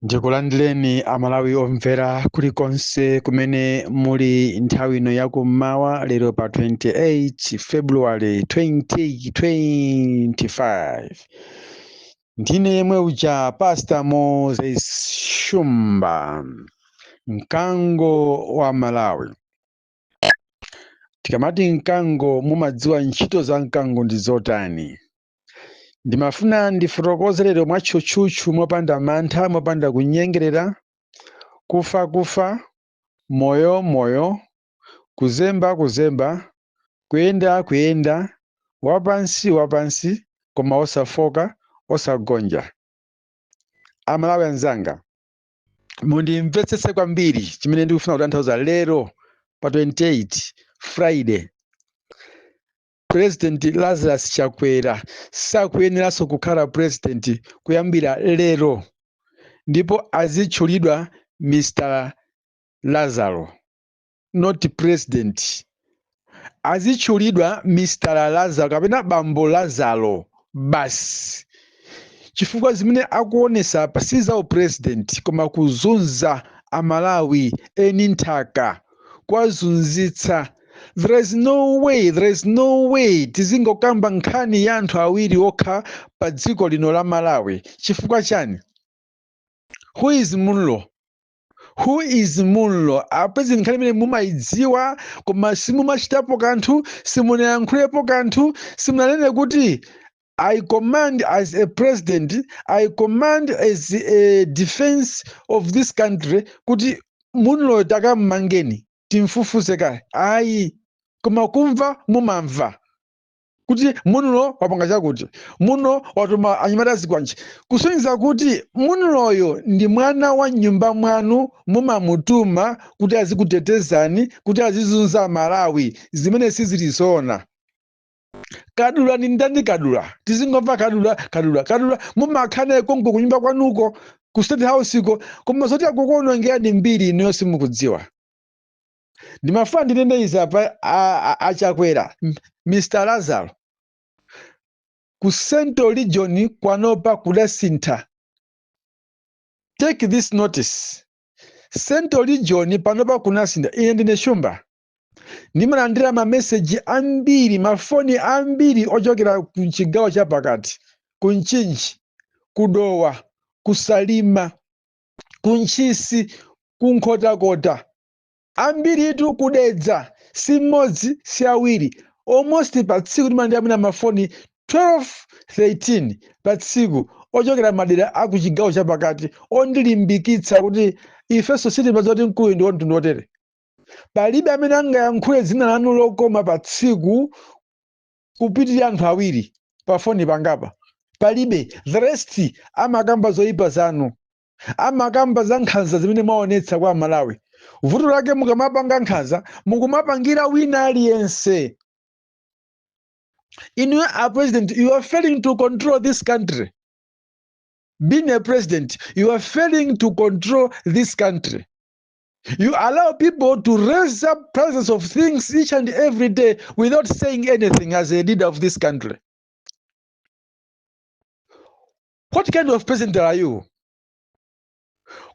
ndikulandireni amalawi omvera kulikonse kumene muli nthawi ino yakummawa lero pa 28 february 2025 ndine yemwe uja pasta moses shumba mkango wa malawi tikamati mkango mumadziwa ntchito za mkango ndi zotani ndimafuna ndifotokoze lero mwatchutchutchu mopanda mantha mopanda kunyengerera kufa kufa moyo moyo kuzemba kuzemba kuyenda kuyenda wapansi wapansi koma osafoka osagonja amalawi anzanga mundimvetsetse kwambiri chimene ndikufuna kutanthauza lero pa 28 friday president lazarus chakwera sakuyeneranso kukhala president kuyambira lero ndipo azitchulidwa mr lazaro not president azitchulidwa mr lazaro kapena bambo lazaro basi chifukwa zimene akuonesa apa si za upresident koma kuzunza amalawi eni nthaka kuwazunzitsa there is no way there is no way tizingokamba nkhani ya anthu awiri okha pa dziko lino la malawi chifukwa chani who is munlo who is munlo apa ndi nkhani imene mumayidziwa koma simumachitapo kanthu simunayankhulepo kanthu simunanene kuti I command as a president, I command as a defense of this country kuti munloyo takammangeni timfufuze kaye ayi koma kumva mumamva kuti munlo wapanga chakuti munlo watuma anyamata a zikwanje kusonyeza kuti munloyo ndi mwana wa nyumba mwanu mumamutuma kuti azikutetezani kuti azizunza amalawi zimene sizili zoona kadula ndi ndani kadula tizingomva kadula kadula kadula mumakhala naye konko kunyumba kwanuko ku state house ko koma zoti akukuonongerani mbiri inuyo simukudziwa ndimafuna ndinene izi apa a- a- achakwera M- mr lazaro ku central region panopa kudasintha take this notice central region panopa kunasintha ine ndine shumba ndimalandira mameseji ambiri mafoni ambiri ochokera ku chigawo chapakati ku mchinji ku dowa ku salima ku ntchisi ku nkhotakota ambiritu kudedza si mmodzi si awiri almost pa tsiku ndimalandira mwina mafoni 12 13 pa tsiku ochokera madera a ku chigawo chapakati ondilimbikitsa kuti ifenso sitimadziwa kuti mkuluyu ndi wamtundu wotere palibe amene angayankhule dzina lanu lokoma pa tsiku kupitirira anthu awiri pa foni pangapa palibe the rest amakamba zoyipa zanu amakamba za nkhanza zimene mwaonetsa kwa amalawi vuto lake mukamapanga nkhanza mukumapangira wina aliyense inuyo a president you are failing to control this country being a president you are failing to control this country You allow people to raise up prices of things each and every day without saying anything as a leader of this country. What kind of president are you?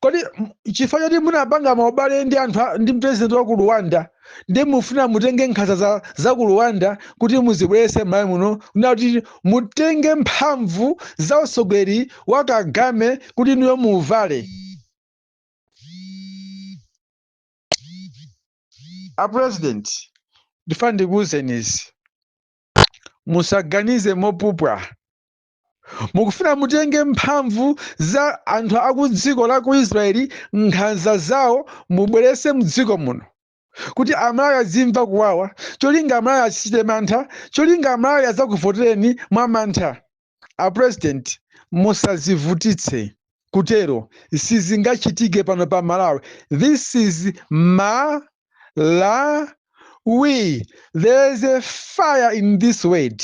kodi m- chifukwa choti munapanga maubale ndi anthu a- ndi president wa ku rwanda ndi mufuna mutenge nkhanza za, za ku rwanda kuti muzibwerese m'Malawi muno kuti mutenge mphamvu za utsogoleri wa kagame kuti inuyo muuvale a president ndifuna ndikuwuzeni izi musaganize mopupwa mukufuna mutenge mphamvu za anthu akudziko la ku israeli nkhanza zawo mubwerese mdziko muno kuti amalawi azimva kuwawa cholinga amalawi azichita mantha cholinga amalawi azakuvotereni mwa mantha a president musazivutitse kutero sizingachitike pano pa malawi this is malawi there is a fire in this word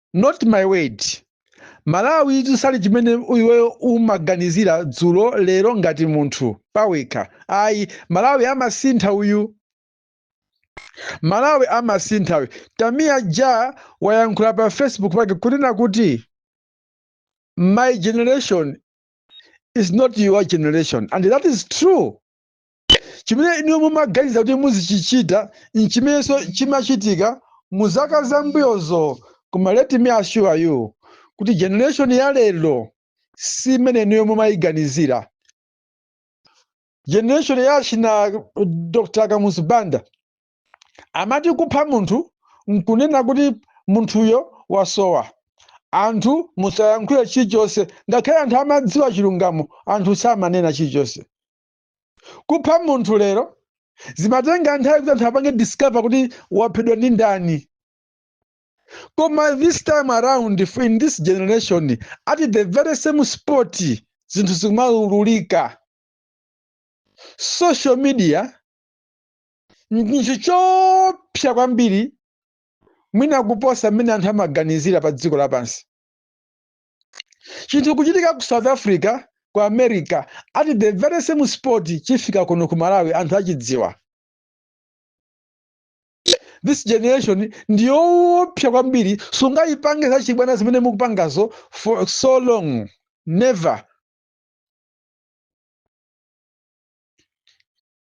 not my word malawitu sali chimene iweyo umaganizira dzulo lero ngati munthu pawekha ayi malawi amasintha uyu malawi amasintha uyu tamiya ja wayankhula pa facebook pake kunena kuti my generation is not your generation and that is true Chimene inuyo mumaganiza kuti muzichichita n'chimenenso chimachitika mu zaka za mbuyozo koma let me assure you kuti generation ya lero si imene inuyo mumayiganizira. Generation ya achina Dr. Kamuzu Banda amati kupha munthu n'kunena kuti munthuyo wasowa. Anthu osayankhula chilichonse ngakhale anthu amadziwa chilungamo anthu samanena chilichonse. kupha munthu lero zimatenga nthawi kuti anthu apange discover kuti waphedwa ndi ndani koma this time around in this generation at the very same spot zinthu zimaululika social media nchinthu choopsa kwambiri mwina kuposa mmene anthu amaganizira pa dziko lapansi chinthu kuchitika ku south africa ku america at the very same spot chifika kuno ku malawi anthu achidziwa this generation ndiyoopsa kwambiri sungayipange zachibwana zimene mukupangazo for so long never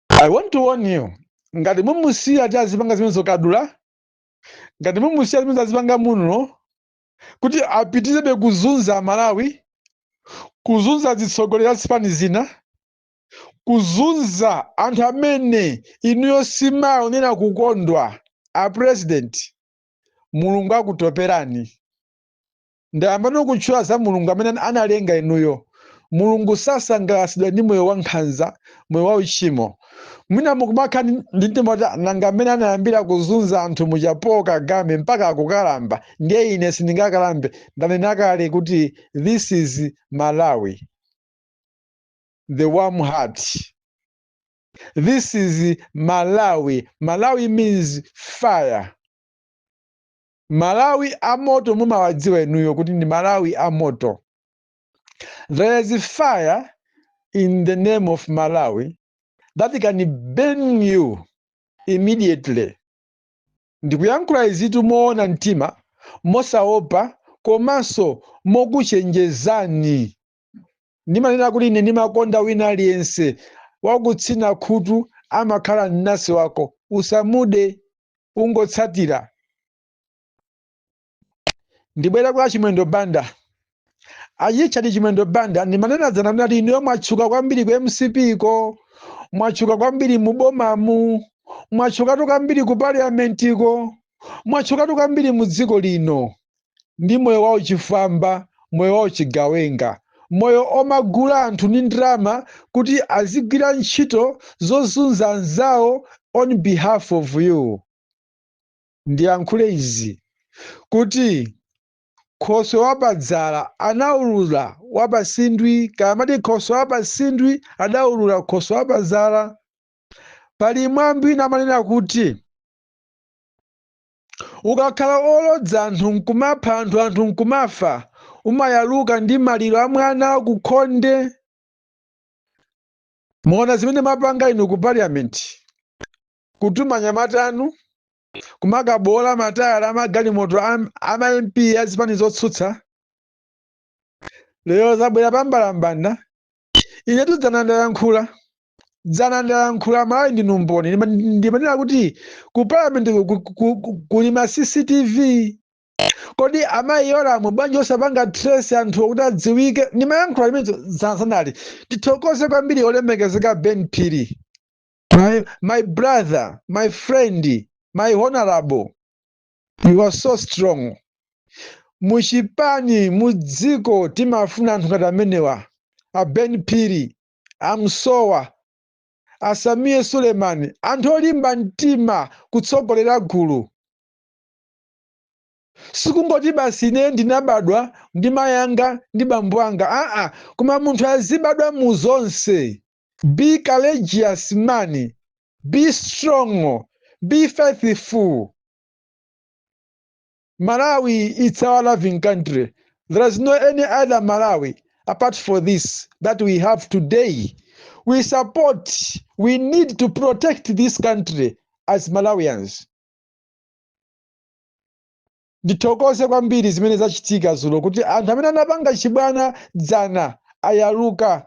i want to warn you ngati mumusiya kuti azipanga zimene zokadula ngati mumusiya zimene azipanga muno kuti apitirebe kuzunza Amalawi, kuzunza azitsogoleri a zipani zina, kuzunza anthu amene inuyo simuwaonera kukondwa a president mulungu akutoperani ndayambano kutchula za mulungu amene analenga inuyo mulungu sasangalatsidwa ndi moyo wankhanza moyo wauchimo mwina mukumakhala ndi mtima woti nanga mmene anayambira kuzunza anthu muja paul kagame mpaka akukalamba ndiye ine sindingakalambe ndanena kale kuti this is malawi the warm heart this is malawi malawi means fire malawi amoto mumawadziwa inuyo kuti ndi malawi amoto There is fire in the name of Malawi that can burn you immediately. Ndikuyankhula izitu moona mtima, mosaopa komanso mokuchenjezani. Ndimanena kuti ine ndimakonda wina aliyense wakutsina khutu amakhala mnansi wako, usamude, ungotsatira. ndibwera kwa chimwendo banda a richard chimwendo banda ndimanena dzana ndinati inuyo mwatchuka kwambiri ku mcp ko mwatchuka kwambiri mu bomamu mwatchukatu kwambiri ku paliamentiko mwatchukatu kwambiri mu dziko lino ndi moyo wauchifwamba moyo wauchigawenga moyo omagula anthu ndi ndalama kuti azigwira ntchito zozunza anzawo on behalf of you ndiyankhule izi, kuti khoswe wa pa dzala anaulula wa pa sindwi, kaya amati khoswe wa pa sindwi adaulula khoswe wa pa dzala. Pali mwambi wina amanena kuti ukakhala olodza anthu nkumapha anthu anthu nkumafa umayaluka ndi maliro a mwana ku khonde. Mwaona zimene mapanga inu ku parliament? kutuma anyamata anu kumakaboola matayala amagalimoto a ma mp a zipani zotsutsa lero zabwera pambalambanda inetu dzana ndayankhula dzana ndayankhula malawi ndinu mboni Ndima- ndimanena kuti ku parliament ku- ku- ku- ku- kuli ma cctv kodi amayi Yolamu bwanji osapanga trace anthu kuti adziwike ndimayankhula limenelo dzanadzanali tithokoze kwambiri olemekezeka ben phiri My, my brother, my friend, my honorable, you are so strong. Muchipani, mudziko, timafuna anthu ngati amenewa. A Ben Phiri, a Musowa, a Sameer Suleman, anthu olimba mtima kutsogolera gulu. Sikungoti basi ine ndinabadwa ndi mayanga ndi bambo anga. Aa, koma munthu azibadwa mu zonse. be courageous man, be strong, be faithful. Malawi it's our loving country. There is no any other Malawi apart for this that we have today. We support, we need to protect this country as Malawians. ndithokoze kwambiri zimene zachitika zulo kuti anthu amene anapanga chibwana dzana ayaluka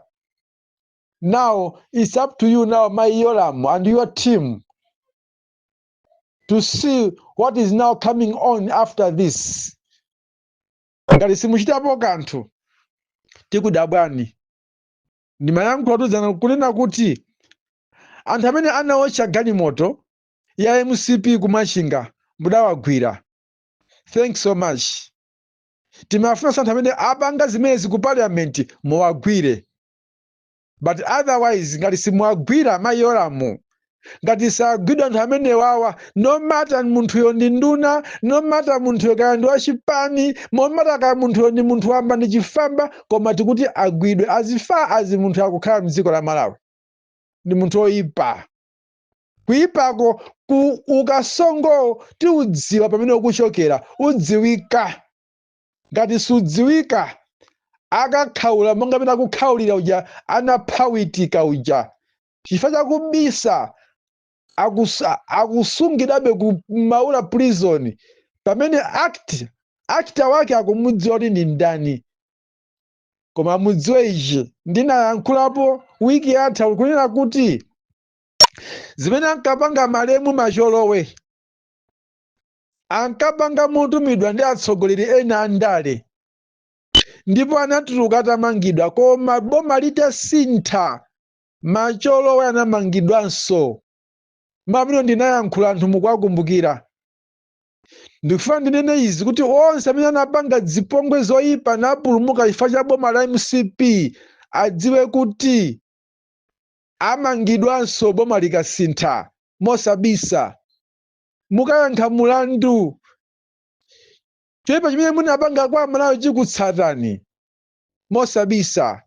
now it's up to you now mayi Yolamu and your team to see what is now coming on after this ngati simuchitapo kanthu tikudabwani ndimayankhulatu dzana kunena kuti anthu amene anaotcha galimoto ya mcp kumachinga mudawagwira thanks so much timafunanso anthu amene apanga zimenezi ku parliament muwagwire but otherwise ngati simuwagwira mayi Yolamu ngati sagwidwa anthu amenewawa no matter munthuyo ndi nduna no matter munthuyo kaya ndi wachipani no matter kaya munthuyo ndi munthu wamba ndi chifwamba koma tikuti agwidwe as far as munthu akukhala mdziko la malawi ndi munthu oyipa kuipako ku ukasongowo tiwudziwa pamene ukuchokera udziwika ngati sudziwika akakhaula monga pena akukhaulira uja anaphawitika uja chifukwa chakubisa akusungidwabe ku maula prison pamene act actor wake akumudziwa kuti ndi ndani koma mudziwe ichi ndinayankhulapo wiki yatha kunena kuti zimene ankapanga malemu macholowe ankapanga motumidwa ndi atsogoleri ena a ndale ndipo anatuluka atamangidwa koma boma litasintha macholowe anamangidwanso mmene ndinayankhula anthu mukwakumbukira ndikufuna ndinene izi kuti onse amene anapanga zipongwe zoyipa napulumuka chifukwa cha boma la mcp adziwe kuti Amangidwanso boma likasintha mosabisa. Mukayankha mulandu choipa chimene munapanga kwa Malawi chikutsatani mosabisa.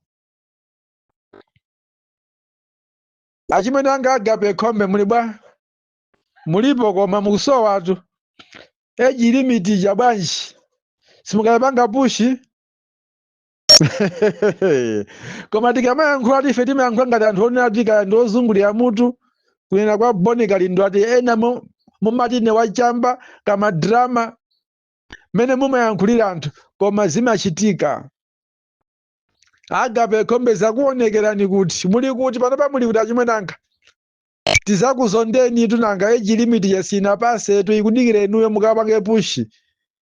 Achimwene anga Agape Khombe muli bwa? Mulipo koma mukusowatu. Age limit ija bwanji? Simukuipanga push? koma tikamayankhula tife timayankhula ngati anthu onena kuti kaya ndi ozungulira mutu kunena kwa boni kalindo ati ena mu- mumati ne wachamba kama drama mmene mumayankhulira anthu koma zimachitika agape khombe zakuonekerani kuti muli kuti panopa muli kuti achimwene anga tizakuzondeni tunanga age limit ija sinapasetu ikudikira inuyo mukapange push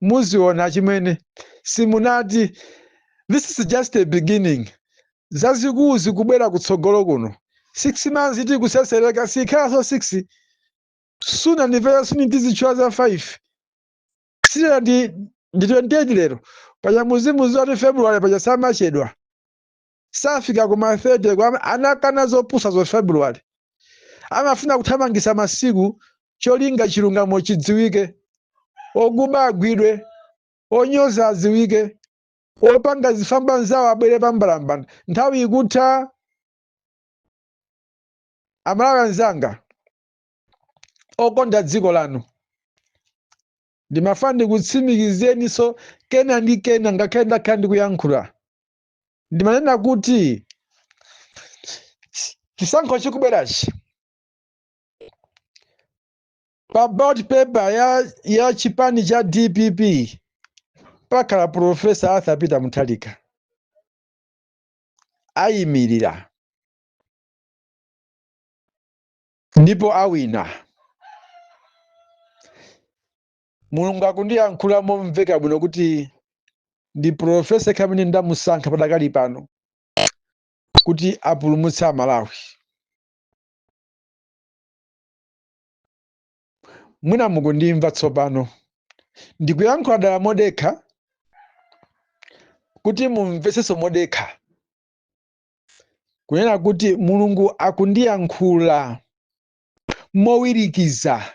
muziona chimene simunati this is just the beginning zazikulu zikubwera kutsogolo kuno six months iti kusesereka sikhalanso six sooner and very soon tizitchula za five si lero ndi 28 lero paja muzimu zoti february paja samachedwa safika kuma 30 ko anakana zopusazo february amafuna kuthamangisa masiku cholinga chilungamo chidziwike okuba agwidwe onyoza adziwike opanga zifamba anzawo abwere pambalambanda nthawi ikutha amalawi anzanga okonda dziko lanu ndimafuna ndikutsimikizireninso kena ndi kena ngakhale ndakhala ndikuyankhula ndimanena kuti chisankho chikubwerachi pa ballot paper ya chipani cha dpp pakhala profesa arthur peter mutharika ayimirira ndipo awina mulungu akundiyankhula momveka bwino kuti ndi profesa yekha amene ndamusankha padakali pano kuti apulumutse amalawi mwina mukundimva tsopano ndikuyankhula dala modekha kuti mumvetsenso modekha kunena kuti mulungu akundiyankhula mowirikiza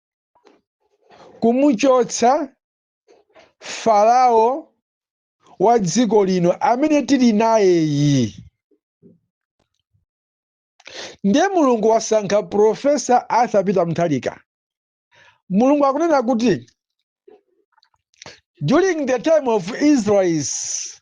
kumuchotsa Farao wa dziko lino amene tili nayeyi. Ndiye Mulungu wasankha Profesa Arthur Peter Mutharika. Mulungu akunena kuti during the time of Israelites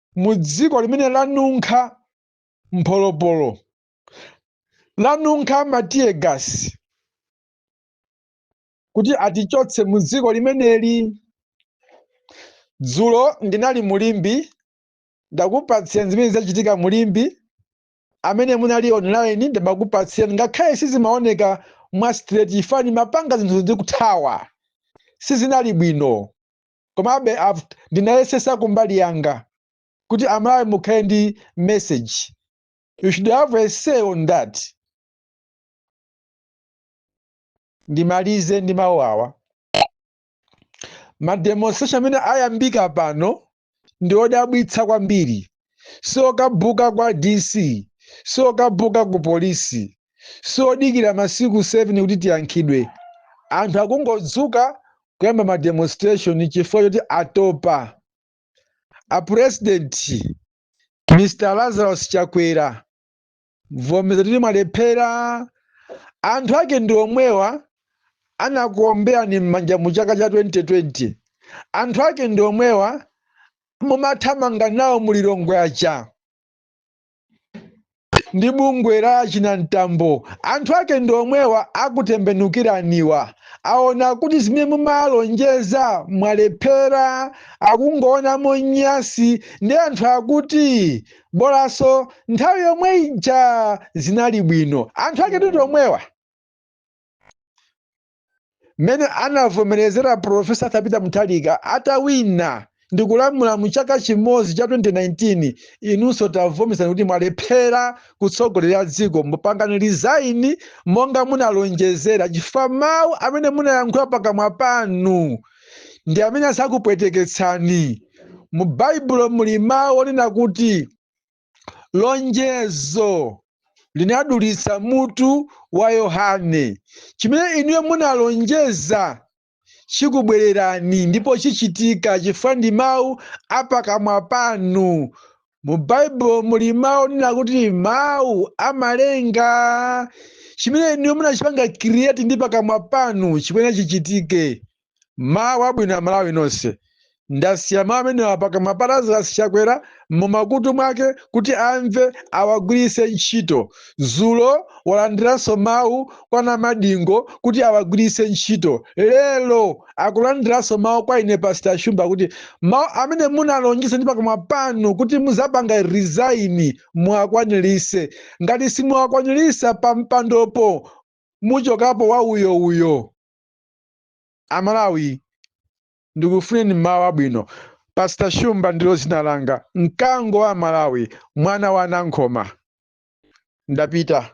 mu dziko limene lanunkha mpolopolo lanunkha matiyegasi kuti atichotse mu dziko limeneli dzulo ndinali mu Limbe ndakupatsirani zimene zachitika mu Limbe amene munali online ndimakupatsirani ngakhale sizimaoneka mwa straight chifukwa ndimapanga zinthu ndikuthawa sizinali bwino komabe ndinayesesa kumbali yanga kuti amalawi mukhale ndi message you should have a say on that ndimalize ndi mawu awa mademonstration amene ayambika pano ndi odabwitsa kwambiri siokapempha kwa dc siokapempha ku polisi siodikira masiku 7 kuti tiyankhidwe anthu akungodzuka kuyamba ma demonstration chifukwa choti atopa a president mr lazarus chakwera vomerezani kuti mwalephera anthu ake ndi omwewa anakuomberani m'manja mu chaka cha 2020 anthu ake ndi omwewa mumathamanga nawo mu lilongwe aja ndi bungwe la china mtambo anthu ake ndi omwewa akutembenukiraniwa aona kuti zimene mumalonjeza mwalephera akungoonamo nyasi nde anthu akuti bolanso nthawi yomwe ija zinali bwino anthu ake ndi omwewa mmene anavomerezera profesa Arthur Peter Mutharika atawina ndikulamula mu chaka chimodzi cha 2019 inunso tavomerezani kuti mwalephera kutsogolera dziko mupangani resign monga munalonjezera chifukwa mawu amene munayankhula pakamwa panu ndi amene adzakupweteketsani. Mu Baibulo muli mawu onena kuti lonjezo linadulitsa mutu wa Yohane. Chimene inuyo munalonjeza chikubwererani ndipo chichitika chifukwa ndi mawu a pakamwa panu. Mu Baibulo muli mawu onena kuti mawu amalenga. Chimene inuyo munachipanga create ndi pakamwa panu chikuyenera chichitike. Mawu abwino Amalawi nonse. Ndasiya mawu amenewa pakamwa pa Lazarus Chakwera mumakutu mwake kuti amve awagwiritse ntchito. Dzulo walandiranso mawu kwa Namadingo kuti awagwiritse ntchito. Lero akulandiranso mawu kwa ine pastor shumba kuti mawu amene munalonjeza ndi pakamwa panu kuti muzapanga resign muwakwanirise ngati simuwakwanirisa pa mpandopo muchokapo wa uyo uyo amalawi ndikufunireni mawu abwino pastor shumba ndilo dzina langa mkango wa malawi mwana wa nankhoma ndapita